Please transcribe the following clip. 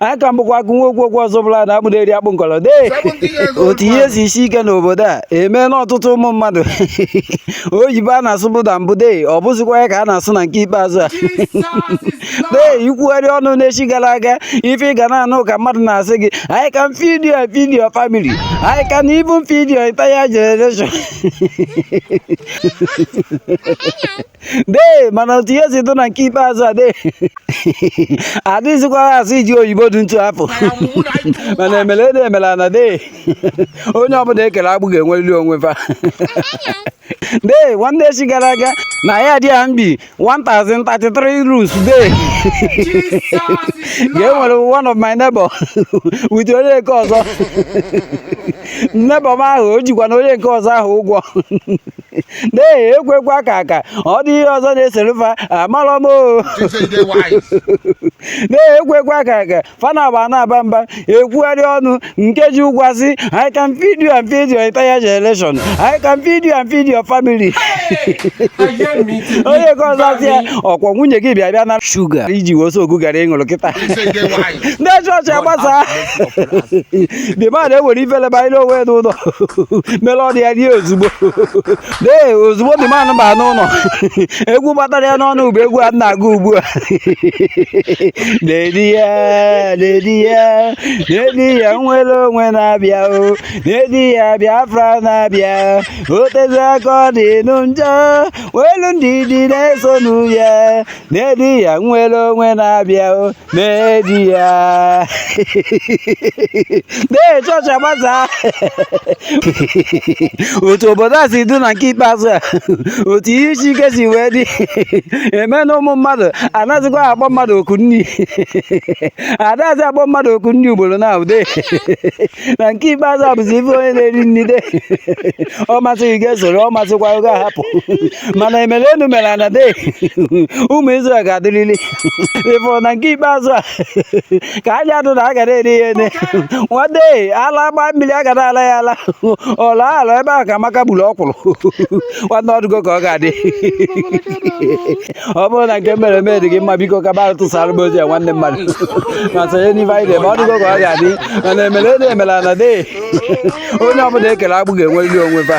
aka m bụkwa nwa okwu okwu ọzọ bụla na akpụ na-eri akpụ nkọrọ dee otu ihe si esi ike n'obodo a emee na ọtụtụ ụmụ mmadụ oyibo a na-asụbu na mbụ dee ọ bụzikwa ya ka a na-asụ na nke ikpeazụ a dee ikwugharị ọnụ n'echi gara aga ife ị ga na-anụ ka mmadụ na-asị gị I can feed you and feed your family I can even feed your entire generation dee mana otu ihe si dụ na nke ikpeazụ a dee adịzikwa asụ ụdị oyibo dị etu afụ mana emele enu emele ana dee onye ọbụla ekele agbụ ga-enwerịrị onwe fa dee nwanne echi gara aga na yard a m bi 1033 rules dee ka e nwere one of my neighbor with onye nke ọzọ neighbor m ahụ o jikwa na onye nke ọzọ ahụ ụgwọ dee ekwu ekwu aka aka ọ dị ihe ọzọ na-eselu fa amarọ m dee ekwu ekwu aka aka fa na-agba na-aba mba ekwugharị ọnụ nke ji ụgwọ asị I can feed you and feed your entire generation I can feed you and feed your family onye nke ọzọ asị ya ọ kwa nwunye gị bịa bịa na shuga i ji wee soak garri ị ṅụrụ kịta dee chọọchị agbasa the man ewere ifele banyere onwe ya n'ụlọ mere ọdị ya rie ozugbo dee ozugbo the man baa n'ụlọ egwu gbatara ya n'ọnụ bụ egwu a na-agụ ugbu a na-edi ya na-edi ya na-edi ya nnwere onwe na-abịa o na-edi ya Biafra na-abịa o tezi aka ọ dị nụ njọ welu ndidi na-esonụ ya na-edi ya nnwere onwe na-abịa o na-edi ya dee chọọchị agbasa otu obodo a si dị na nke ikpeazụ a otu ihe isi ike si wee dị eme na ụmụ mmadụ anazikwa akpọ mmadụ oku nni adazi akpọ mmadụ oku nni ugboro naabọ dee na nke ikpeazụ a bụzi ị fụ onye na-eri nni dee ọ masị gị esoro ọ masịkwa gị ahapụ mana emere enu mere ana dee ụmụ Izrel ga-adịrịrị ị fụrụ na nke ikpeazụ a ka anya dụ na a ga na-eri ihe ne nwa dee ala gbaa mmiri a ga na-ala ya ala ọla ala ebe ahụ ka Amaka gburu ọkwụrụ nwanne ọdụgo ka ọ ga-adị ọ bụrụ na nke m mere eme dị gị mma biko ka bara tụsara m ozi ya nwanne mmadụ ma sonye n'ife anyị dị ma ọdụgo ka ọ ga-adị mana emele enu emele ana dee onye ọbụla ekele agbụ ga-enwerịrị onwe fa